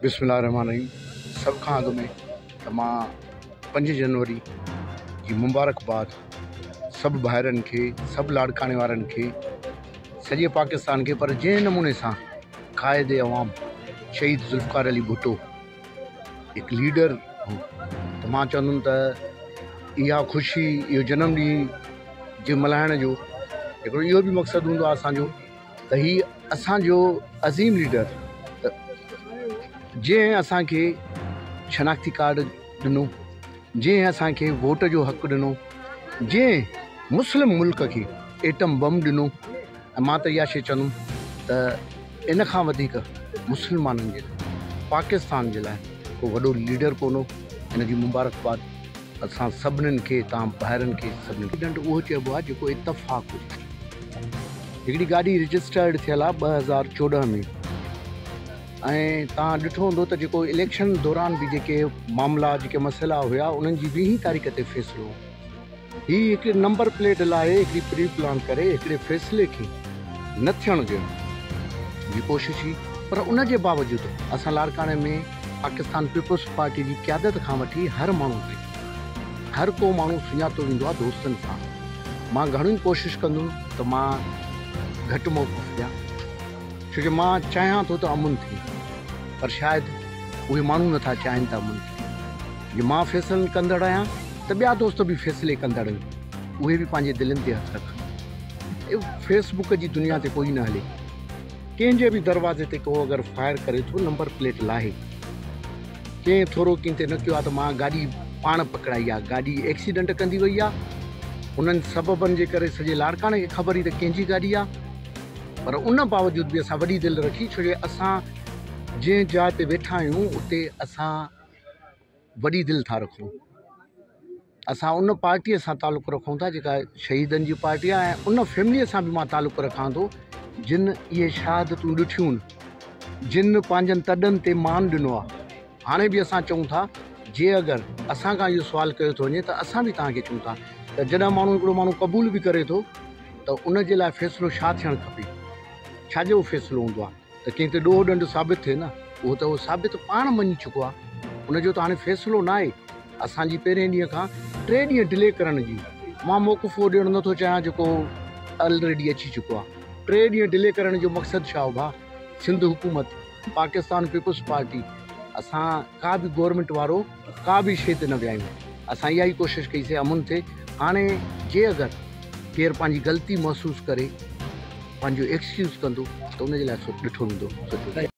بسم الله الرحمٰن الرحيم سڀ کان اڳ ۾ ته مان پنج جنوري جي مبارڪ باد سڀ ڀائرن کي سڀ لاڙڪاڻي وارن کي سڄي پاڪستان کي پر جنهن نموني سان قائد عوام شهيد ذوالفقار علي ڀٽو هڪ ليڊر هو ته مان چوندم ته اها خوشي اهو جنم ڏينهن جي ملهائڻ جو هڪڙو اهو به مقصد هوندو آهي اسانجو ته هي اسان جو عظيم ليڊر جنهن اسان کي شناختي ڪارڊ ڏنو جنهن اسان کي ووٽ جو حق ڏنو جنهن مسلم ملڪ کي ايٽم بم ڏنو ۽ مان ته اها شيء چوندم ته ان کان وڌيڪ مسلمانن جي پاڪستان جي لاء ڪو وڏو ليڊر ڪونه هن جي مبارڪباد اسان سڀنن کي تان ڀائرن کي سڀنن کي ڏنڊ اهو چئبو آهي جيڪو اتفاق هجي هڪڙي گاڏي رجسٽرڊ ٿيل آهي ٻه هزار چوڏهن ۾ ۽ تان ڏٺو هوندو ته جيڪو اليڪشن دوران به جيڪي معاملا جيڪي مسئلا هيا انهن جي ويهين تاريخ تي فيصلو هي هڪڙي نمبر پليٽ لاء هڪڙي پري پلان ڪري هڪڙي فيصلي کي نه ٿيڻ ڏيڻ جي ڪوشش هئي پر ان جي باوجود اسان لاڙڪاڻي ۾ پاڪستان پيپلز پارٽي جي قيادت کان وٺي هر ماڻهو تائين هر ڪو ماڻهو سڃاتو ويندو آهي دوستن سان مان گهڻيون ڪوشش ڪندم ته مان گهٽ موقف ڏيان ڇو جو مان چاهيان ٿو ته امن ٿئي پر شايد اهي ماڻهو نٿا چاهين ته امن ٿئي. جي مان فيصلن ڪندڙ آهيان ته ٻيا دوست به فيصلي ڪندڙ آهن اهي به پنهنجي دلين تي هٿ رکن اهو فيس بڪ جي دنيا تي ڪوئي نه هلي ڪنهن جي به دروازي تي ڪو اگر فائر ڪري ٿو نمبر پليٽ لاهي ڪنهن ٿورو ڪنهن تي نه ڪيو آهي ته مان گاڏي پاڻ پڪڙائي آهي گاڏي ايڪسيڊنٽ ڪندي وئي آهي انهن سببن جي ڪري سڄي لاڙڪاڻي کي خبر ئي ته ڪنهن جي گاڏي آهي پر ان باوجود به اسان وڏي دل رکي ڇو جو اسان جنهن جاء تي ويٺا آهيون اتي اسان وڏي دل ٿا رکون اسان ان پارٽيء سان تعلق رکون ٿا جيڪا شهيدن جي پارٽي آهي ۽ ان فيمليء سان به مان تعلق رکان ٿو جن اهي شهادتون ڏٺيون جن پنهنجن تڏن تي مان ڏنو آهي هاڻي به اسان چئون ٿا جي اگر اسان کان اهو سوال ڪيو ٿو وڃي ته اسان به توهان کي چون ٿا ته جڏهن ماڻهو هڪڙو ماڻهو قبول به ڪري ٿو ته ان جي لاء فيصلو ڇا ٿيڻ کپي ڇا جو فيصلو هوندو آهي ته ڪنهن تي ڏوهه ڏنڊ ثابت ٿئي نه، اهو ته هو ثابت پاڻ مڃي چڪو آهي، ان جو ته هاڻي فيصلو ناهي، اسان جي پهرين ڏينهن کان ٽي ڏينهن ڊلي ڪرڻ جي مان موقف اهو ڏيڻ نٿو چاهيان جيڪو الريڊي اچي چڪو آهي، ٽي ڏينهن ڊلي ڪرڻ جو مقصد ڇا هو ڀاء، سنڌ حڪومت، پاڪستان پيپلز پارٽي، اسان ڪا به گورنمينٽ وارو. ڪا به شيء تي نه ويايون. اسان اها ئي ڪوشش ڪئيسي امن تي. هاڻي جي اگر ڪير پنهنجي غلطي محسوس ڪري پنهنجو ايڪسڪيوز ڪندو ته ان جي لاء سو ڏٺو ويندو.